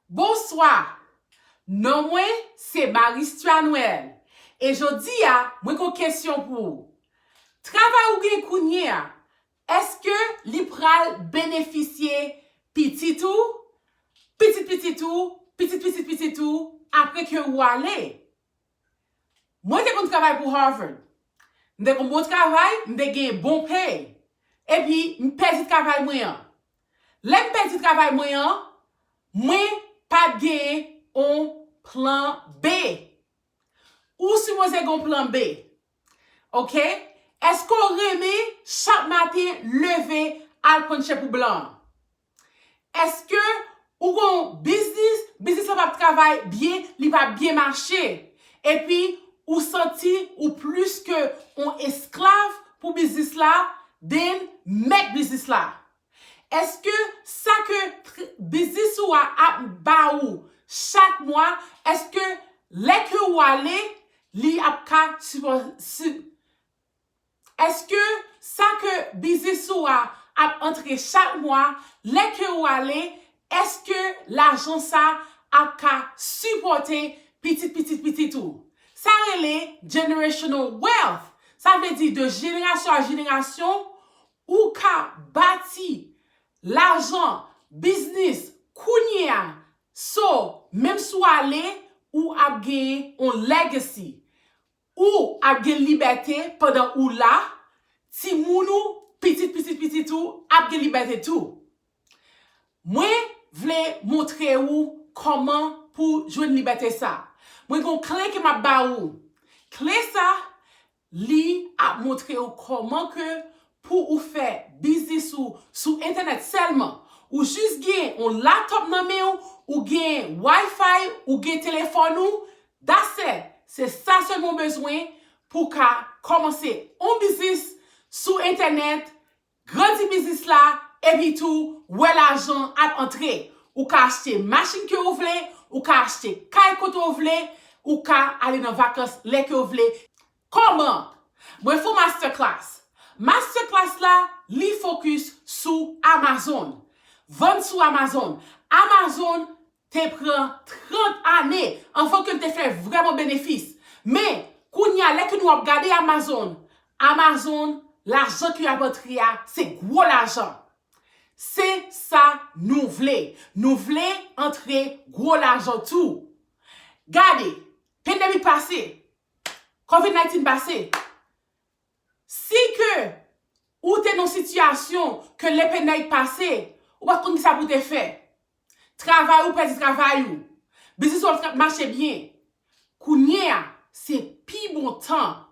Bonswa! Non mwen se Maristua Noël e jodi a mwen gon kesyon pou ou. Travay ou gen kounye a, èske li pral benefisye pitit ou, pitit pitit ou, pitit pitit pitit ou apre ke ou ale? Mwen te konn travay pou Harvard. M te konn bon travay, m te gen bon pay. Epi, m pèdi travay mwen an. Lè m pèdi travay mwen an, mwen pa t gen yon plan B. Ou sipoze gen yon plan B. Ok? Èske w renmen chak maten leve al pran tche pou blan an? Eske ou gen yon biznis, biznis la pap travay byen, li pa byen mache. Epi ou santi ou plis ke yon esklav pou biznis la den mèt biznis la. Eske sa ke biznis ou a ap ba ou chak mwa, eske lè ke ou ale, li ap ka Eske sa ke biznis ou a ap antre chak mwa lè ke ou ale eske lajan sa ap ka sipòte pitit pitit pitit ou. Sa rele generational wealth sa vle di de jenerasyon a jenerasyon ou ka bati lajan biznis kounye a so menm si w ale ou ap gen yon legacy Ou ap gen libète pandan ou la, timoun ou, pitit pitit pitit ou ap gen libète tou. Mwen vle montre ou kòman pou jwenn libète sa. Mwen gen yon kle ke m ap ba ou. Kle sa, li ap montre ou kòman ke pou ou fè biznis ou sou entènèt sèlman. Ou jis gen yon laptop nan men ou, ou gen Wi-Fi, ou gen telefòn ou, That's it! Se sa selman w bezwen pou w ka kòmanse on biznis sou entènèt, grandi biznis la, epi tou wè lajan ap antre. Ou ka achte machin ke w vle, ou ka achte kay kote w vle, ou ka ale nan vakans lè ke w vle. Kòman? Mwen fè w masterclass. Masterclass la, li focus sou Amazon. Vann sou Amazon. Amazon te pran 30 ane anvan ke l te fè vrèman benefis. Men, kounye a, lè ke nou ap gade Amazon, Amazon, lajan ki ap antre a, se gwo lajan. Se sa nou vle. Nou vle antre gwo lajan tou. Gade, pandemic pase, covid 19 pase, Si ke ou te nan sitiyasyon ke le penèy pase, ou pat konn kisa pou te fè. Travay ou pèdi travay ou. Biznis ou pat mache byen. Kounye a, se pi bon tan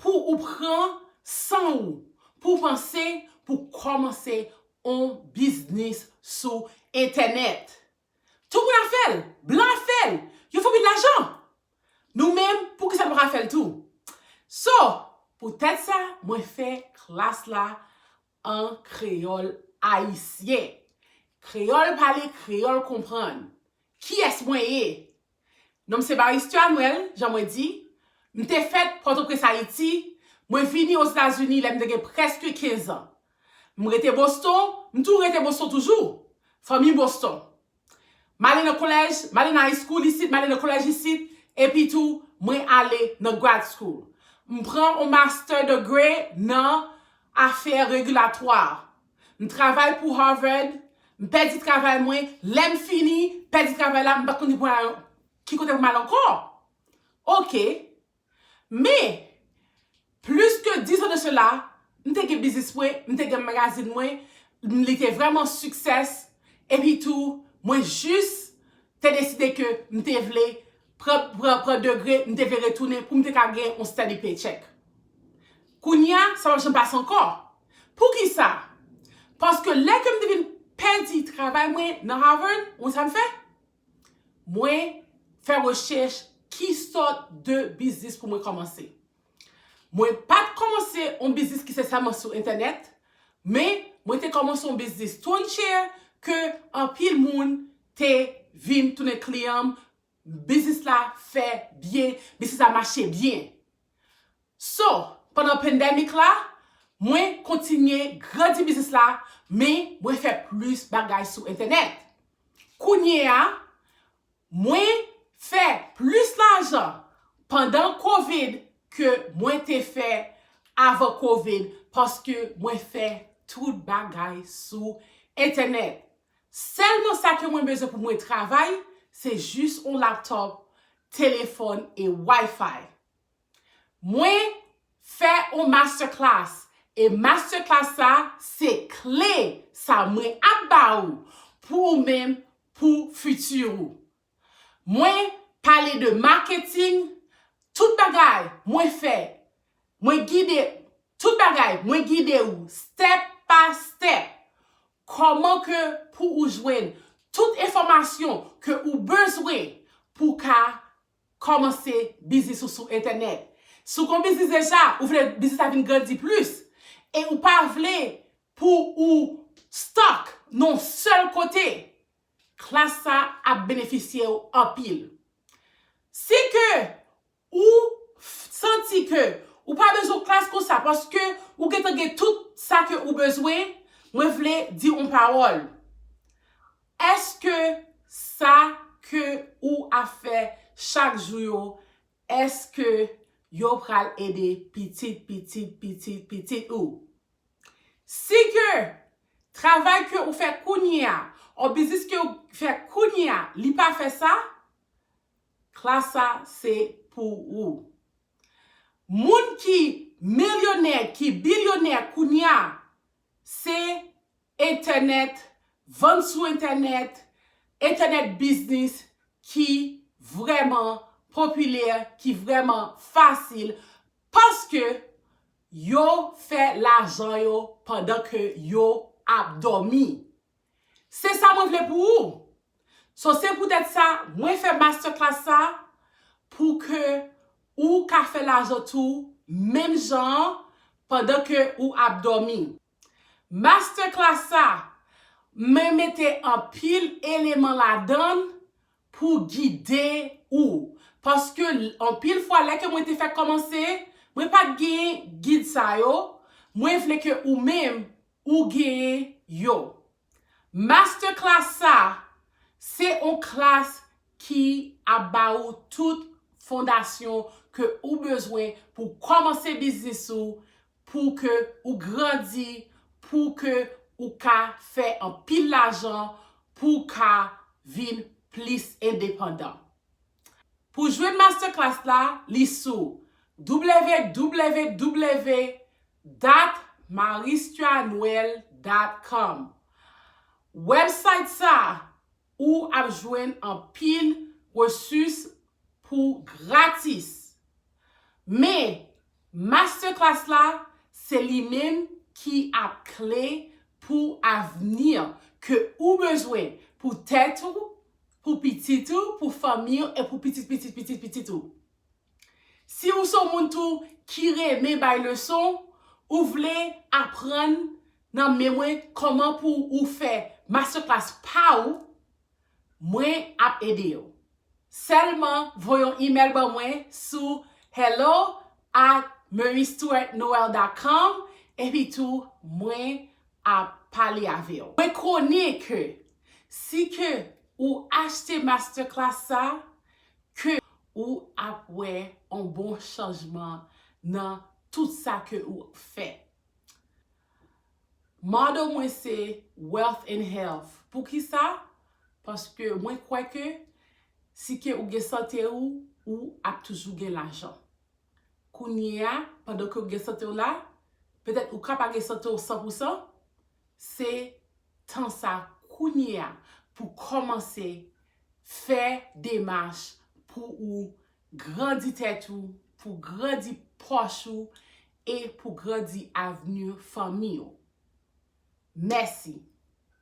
pou ou pran san ou pou panse pou kòmanse on biznis sou entènèt. Tout moun ap fè l. Blan ap fè l. Yo fè anpil lajan. Nou menm, poukisa nou pa fè l tou? So, poutèt sa, mwen fè klas la an kreyòl ayisyen. Kreyòl pale, kreyòl konprann. Kiyès mwen ye? Non m se Baristy Anuel, jan mwen di. M te fèt Pòtoprens, Ayiti. Mwen vini Ozetazini lè m te gen prèske kenzan. M rete Boston, m tou rete Boston toujou. Fanmi Boston. M'ale nan kolèj, m'ale nan high school isit, m'ale nan kolèj isit, epi tou mwen ale nan grad school. M pran yon master degré nan afè regilatwa. M travay pou Harvard, m pèdi travay mwen, lè m fini pèdi travay la m pa t konnen pou m al, ki kote pou m al ankò. Ok. Men, plis ke 10 ans de cela, m te gen biznis mwen, m te gen magazin mwen, li te vrèman success, epi tou, mwen jis te deside ke m te vle pran, pran, pran degre, m te vle retounen pou m te ka gen yon steady paycheck. Kounye a, sa pa p janm pase ankò. Poukisa? Paske lè ke m te vin pèdi travay mwen nan Harvard, ou konn sa m fè? Mwen fè rechèch ki sòt de biznis pou mwen kòmanse. Mwen pa t kòmanse yon biznis ki se sèlman sou entènèt, men mwen te kòmanse yon biznis Toy Chair ke anpil moun te vin tounen kliyan m. Biznis la fè byen, biznis la mache byen. So, pandan pandemic la, mwen kontinye grandi biznis la, men mwen fè plis bagay sou entènèt. Kounye a, mwen fè plis lajan pandan covid ke mwen te fè avan covid paske mwen fè tout bagay sou entènèt. Sèlman sa ke mwen bezwen pou mwen travay se jis yon laptop, telefòn e WiFi. Mwen fè yon masterclass e masterclass sa se kle sa mwen ap ba ou pou ou menm pou fiti ou. Mwen pale de marketing, tout bagay mwen fè, mwen gide, tout bagay mwen gide ou step pa step Kòman ke pou ou jwenn tout enfòmasyon ke ou bezwen pou w ka kòmanse biznis ou sou entènèt. Si w gen yon biznis deja, ou vle biznis la vin grandi plis, e ou pa vle pou ou stuck nan yon sèl kote, klas sa ap benefisye w anpil. Si ke Ou Santi ke ou pa bezwen klas konsa paske ou gentan gen tout sa ke ou bezwen, mwen vle di on pawòl. Eske sa ke ou ap fè chak jou yo, eske yo pral ede pitit pitit pitit pitit ou? Si ke travay ke ou fè kounye a, or biznis ke ou fè kounye a li pa fè sa, Klas sa se pou ou. Moun ki milyonè, ki bilyonè kounya se entènèt, vann sou entènèt, entènèt biznis ki vrèman popilè, ki vrèman fasil paske yo fè lajan yo pandan ke yo ap dòmi. Se sa mwen vle pou ou. So se poutèt sa mwen fè masterclass sa pou ke ou ka fè lajan tou menm jan an pandan ke ou ap dòmi. Masterclass sa mwen mete anpil eleman ladann pou gide ou. Paske anpil fwa lè ke mwen te fè kòmanse mwen pat gen gid sa yo, mwen vle ke ou menm ou genyen yo. Masterclass sa se on klas ki ap ba ou tout fondasyon ke ou bezwen pou w kòmanse biznis ou, pou ke ou grandi, pou ke ou ka fè anpil lajan, pou w ka vin plis endepandan. Pou jwenn masterclass la, li sou www.maristuanoel.com Website sa ou ap jwenn anpil resus pou gratis. Men, masterclass la se li menm ki ap kle pou avni ke ou bezwen pou tèt ou, pou pitit ou, pou fanmi ou e pou pitit pitit pitit pitit ou. Si ou se yon moun tou ki renmen bay leson, ou vle aprann nan men mwen kòman pou ou fè master class pa ou, mwen ap ede ou. Sèlman voye yon email ban mwen sou hello at meurystuartnoel dot com epi tou mwen ap pale avew. Mwen konnen ke si ke ou achte masterclass sa ke ou ap wè on bon chanjman nan tout sa ke ou fè. Motto mwen se wealth and health. Poukisa? Paske mwen kwè ke si ke ou gen sante ou, ou ap toujou gen lajan. Kounyeya, pandan ke ou gen sante w la, petèt ou ka pa gen sante w san pou san, se tan sa kounyeya pou kòmanse fè demach pou ou grandi tèt ou, pou grandi pòch ou e pou grandi avni fanmi ou. Mèsi.